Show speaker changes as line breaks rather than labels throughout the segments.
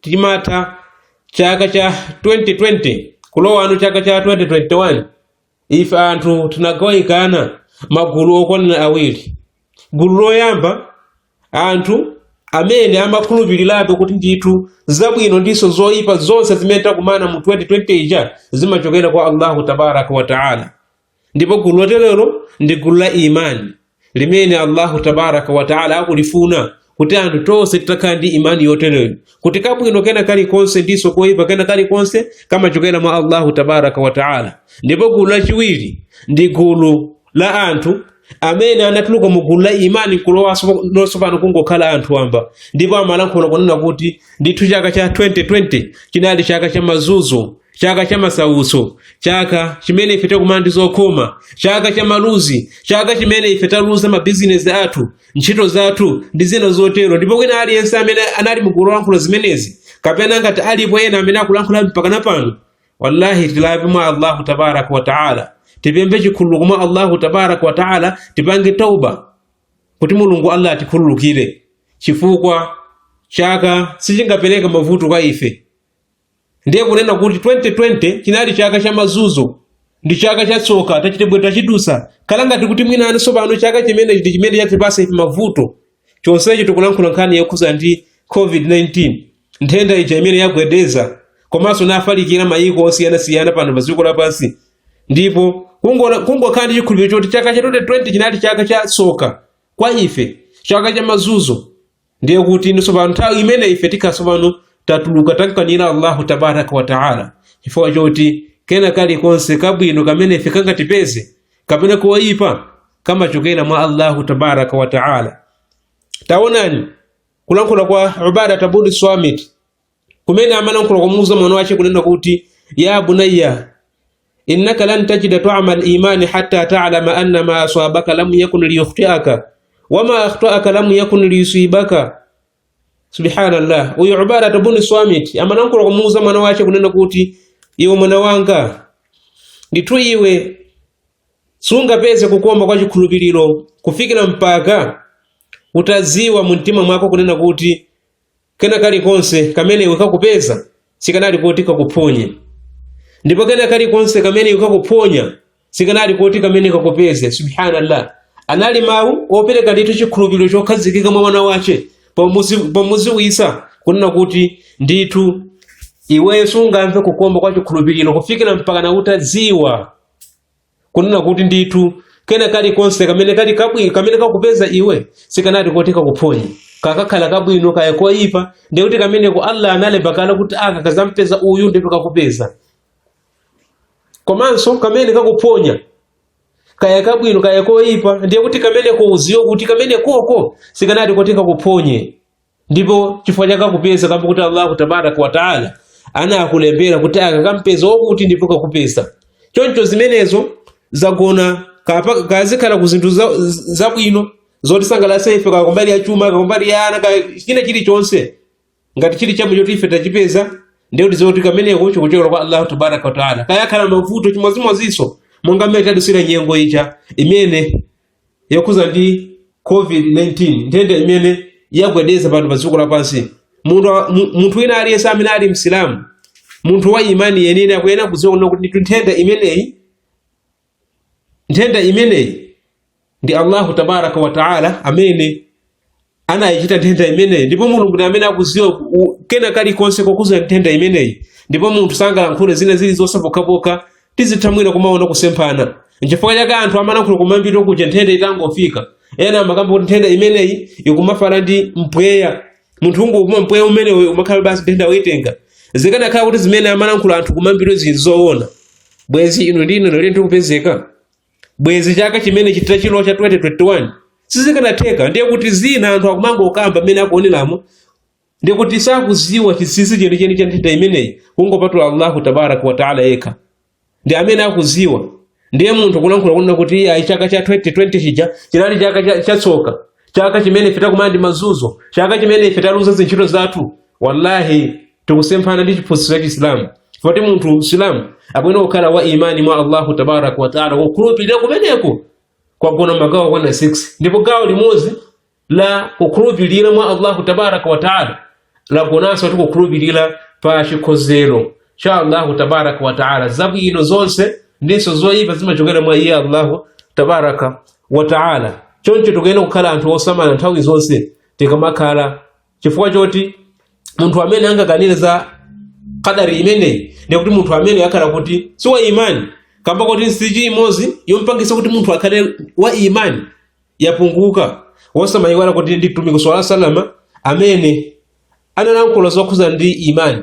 timatha chaka cha 2020 kulowano chaka cha 2021 ife anthu tinagawikana magulu okwanira awiri gulu loyamba anthu amene amakhulupirirabe kuti ndithu zabwino ndinso zoyipa zonse zimene takumana mu 2020 ija zimachokera kwa allahu tabaraka wataala ndipo gulu loterero ndi gulu la imani limene allahu tabaraka wataala akulifuna kuti anthu tonse titakhala ndi imani yotereyo kuti kabwino kena kalikonse ndiso koyipa kena kalikonse kamachokera kwa allahu tabaraka wataala ndipo gulu lachiwiri ndi gulu la anthu amene anatuluka mu gulu la imani kulowa tsopano kungokhala anthu wamba ndipo amalankhula kunena kuti ndithu chaka cha 2020 chinali chaka cha mazunzo chaka cha masautso chaka chimene ife takumana ndi zokhoma chaka cha maluzi chaka chimene ife taluza mabizinesi athu ntchito zathu ndi zina zotero ndipo kwina aliyense amene anali mugulu lolankhula zimenezi kapena ngati alipo ena amene akulankhula mpakana pano wallahi tilape mwa allahu tabaraka wa taala tipemphe chikhululuko mwa allahu tabaraka wa taala tipange tauba kuti mulungu allah atikhululukire chifukwa chaka sichingapereke mavuto kwa ife ndiye kunena kuti 2020 chinali chaka cha mazunzo ndi chaka cha tsoka tachitebwe tachidutsa kale ngati kuti mwina ani sopano chaka chimene ndi chimene chatipatsa ife mavuto chonsecho tikulankhula nkhani yokhudza ndi covid-19 nthenda ija imene yagwedeza komanso yafalikira mayiko osiyanasiyana pano padziko lapansi ndipo kungokhala ndi chikhulupiriro choti chaka cha 2020 chinali chaka cha tsoka kwa ife chaka cha mazunzo ndiye kuti ndi tsopano nthawi imene ife tikhala tsopano tatuluka tamkanira allahu tabaraka wa taala chifukwa choti kena kalikonse kabwino kamene ife kangatipeze kapena koyipa kamachokera mwa allahu tabaraka wa taala taonani kulankhula kwa ubadata bun swamit kumene amalankhula kumuuza mwana wace kunena kuti ya bunayya innaka lan tajida taamal imani hatta talama anna ma aswabaka lam yakun liyukhtiaka wama akhtaaka lam yakun liyusibaka subhanallah uyu ubadata bun swamit amalankhula kumuuza mwana wace kunena kuti iwe mwana wanga ndithu iwe sungapeze kukoma kwa chikhulupiriro kufikira mpaka utadziwa mu mtima mwako kunena kuti Kena kalikonse kamene iwe kakupeza sikanali koti kakuphonye, ndipo kena kalikonse kamene iwe kakuphonya sikanali koti kameneko kakupeze. Subhanallah, anali mawu opereka ndithu chikhulupiriro chokhazikika mwa mwana wace pomudziwitsa kunena kuti ndithu iweyo sungamve kukoma kwa chikhulupiriro kufikira mpakana utadziwa kunena kuti ndithu kena kalikonse kamene kakupeza iwe sikanati koti kakuphonye kaya kakhala kabwino kaya koyipa ndiye kuti kameneko allah analemba kale kuti aka kazampeza uyu ndipo kakupeza komanso kamene kakuphonya kaya kabwino kaya koyipa ndiye kuti kameneko uziwe kuti kamenekoko sikanati koti kakuphonye ndipo chifukwa chake kakupeza kamba kuti allahu tabaraka wataala anakulembera kuti aka kampeza wakuti ndipo kakupeza choncho zimenezo zagona kapa- kazikhala ku zinthu za- zabwino zotisangalatsa ife kaya kumbali ya chuma kaya kumbali ya ana ka- china chilichonse ngati chili chamo choti ife tachipeza ndiye kuti zoti kameneko chikuchokera kwa allahu tabaraka wataala kaya akhala mavuto chimozimozinso monga mmene tadusira nyengo iyi imene yokhuza ndi covid-19 nthenda imene yagwedeza pano pa dziko lapansi munthu wa- mu- munthu wina aliyense amene ali msilamu munthu wa imani yeniyeni akuyenera kudziwa kunena kuti ndithu nthenda imeneyi nthenda imeneyi ndi allahu tabaraka wa taala amene anayichita nthenda imeneyi ndipo mulungu ndi amene akuziwa ku- u- kena kalikonse kokhuza nthenda imeneyi ndipo munthu sangalankhule zina zilizonse pokhapokha tizitha mwina kumaona kusemphana nchifukwa chake anthu amalankhula kuma beat kuja nthenda itangofika ena amakamba kuti nthenda imeneyi ikumafala ndi mpweya munthu ukangopuma mpweya umenewo kumakhala basi nthenda uyitenga zikanakhala kuti zimene amalankhula anthu kuma beat zili zoona bwenzi inu ndi ine lero tikupezeka bwezi chaka chimene chathachi ino cha 2021 sizikanatheka ndiye kuti zina anthu akumangokamba mmene akuonelamo ndiye kuti sakuziwa chinsinsi chenicheni cha nthenda imeneyi kungopatula allahu tabaraka wataala yekha ndi amene akuziwa ndiye munthu kulankhula kunena kuti ayi chaka cha 2020 chija chinali chaka chatsoka chaka chimene ife takumana ndi mazuzo chaka chimene ife taluza zintchito zathu wallahi tikusemphana ndi chiphunzitso cha chisilamu poti munthu msilamu akuyenera kukhala wa imani mwa allahu tabaraka wataala kukhulupirira kumeneko kwagona magawo okwana 6 ndipo gawo limodzi la kukhulupirira mwa allahu tabaraka wataala lagonanso kuti kukhulupirira pa chikonzero cha allahu tabaraka wataala zabwino zonse ndinso zoyipa zimachokera mwa iye allahu tabaraka wataala choncho tikuyenera kukhala anthu osamala nthawi zonse tikamakhala chifukwa choti munthu amene angakanire za kadari imeneyi ndiye kuti munthu ameneyu akhala kuti si wa imani kamba kuti nsichi imodzi yompangisa munthu akhale wa imani yapunguka wosamayiwala kuti ndi mtumiki swalla wasallama amene analankhula zokhuza ndi imani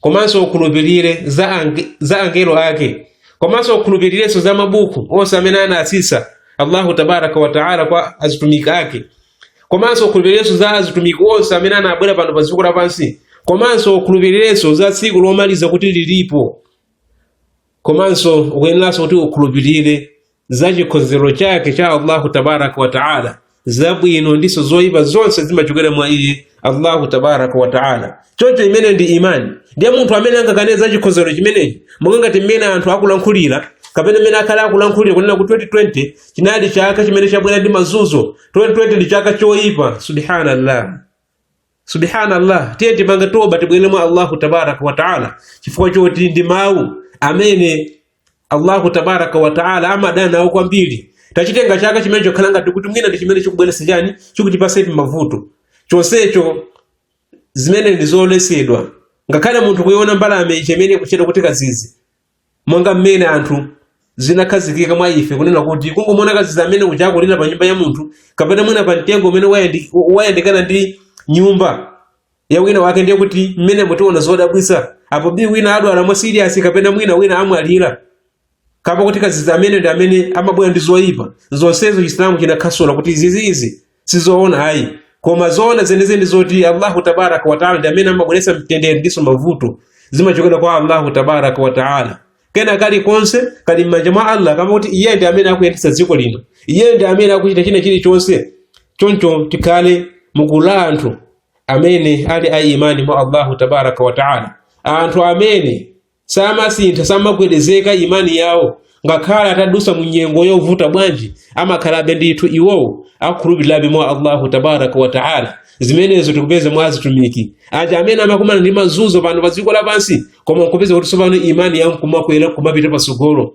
komanso ukhulupirire za angelo ake komanso ukhulupirirenso za mabuku onse amene anatsitsa allahu tabaraka wataala kwa azitumiki ake komanso ukhulupirirenso za azitumiki onse amene anabwera pano pa dziko lapansi komanso ukhulupirirenso za tsiku lomaliza kuti lilipo komanso ukuyeneranso kuti ukhulupirire za chikhonzero chake cha Allahu tabaraka wa taala zabwino ndiso zoyipa zonse zimachokera mwa iye Allahu tabaraka wa taala. Choncho imene ndi imani ndiye munthu amene angakane za chikhonzero chimenechi monga ngati mmene anthu akulankhulira kapena mmene akhala akulankhulira kunena kuti 2020 chinali chaka chimene chabwera ndi mazunzo 2020 ndi chaka choyipa subhanallah subhanallah tiye tipange toba tibwerere mwa allahu tabaraka wataala chifukwa choti ndi mawu amene allahu tabaraka wataala amadana nawo kwambiri tachitenga chaka chimene chokhala ngati kuti mwina ndi chimene chikubweretsa chani chikutipatsa ife mavuto chonsecho zimene ndi zoletsedwa ngakhale munthu kuiona mbalame ichi imene ikutchedwa kuti kadzidzi monga mmene anthu zinakhazikika mwa ife kunena kuti kungomuona kadzidzi amene uja akulira pa nyumba ya munthu kapena mwina pa mtengo umene wayandikana ndi nyumba ya wina wake ndiye kuti mmene mu tiona zodabwitsa apo bi wina adwala mwa siriyasi kapena mwina wina amwalira kapena kuti kadzidzi amene ndi amene amabwera ndi zoyipa zonsezo chisilamu chinakhasula kuti zizi izi sizoona ayi koma zoona zenizeni zoti allahu tabaraka wataala ndi amene amabweretsa mtendere ndiso mavuto zimachokera kwa allahu tabaraka wataala kena kalikonse kali m'manja mwa allah kaamba kuti iye ndi amene akuyendetsa dziko lino iye ndi amene akuchita china chilichonse choncho tikhale mukula anthu amene ali a imani mwa allahu tabaraka wataala anthu amene samasintha samagwedezeka imani yawo ngakhale atadusa mu nyengo yovuta bwanji amakhalabe ndithu iwowo akukhulupirirabe mwa allahu tabaraka wa taala zimenezo tikupeza mwa azitumiki aja amene amakumana ndi mazunzo pano pa dziko lapansi koma nkupeza kuti tsopano imani yawo nkumakwera nkumapita patsogolo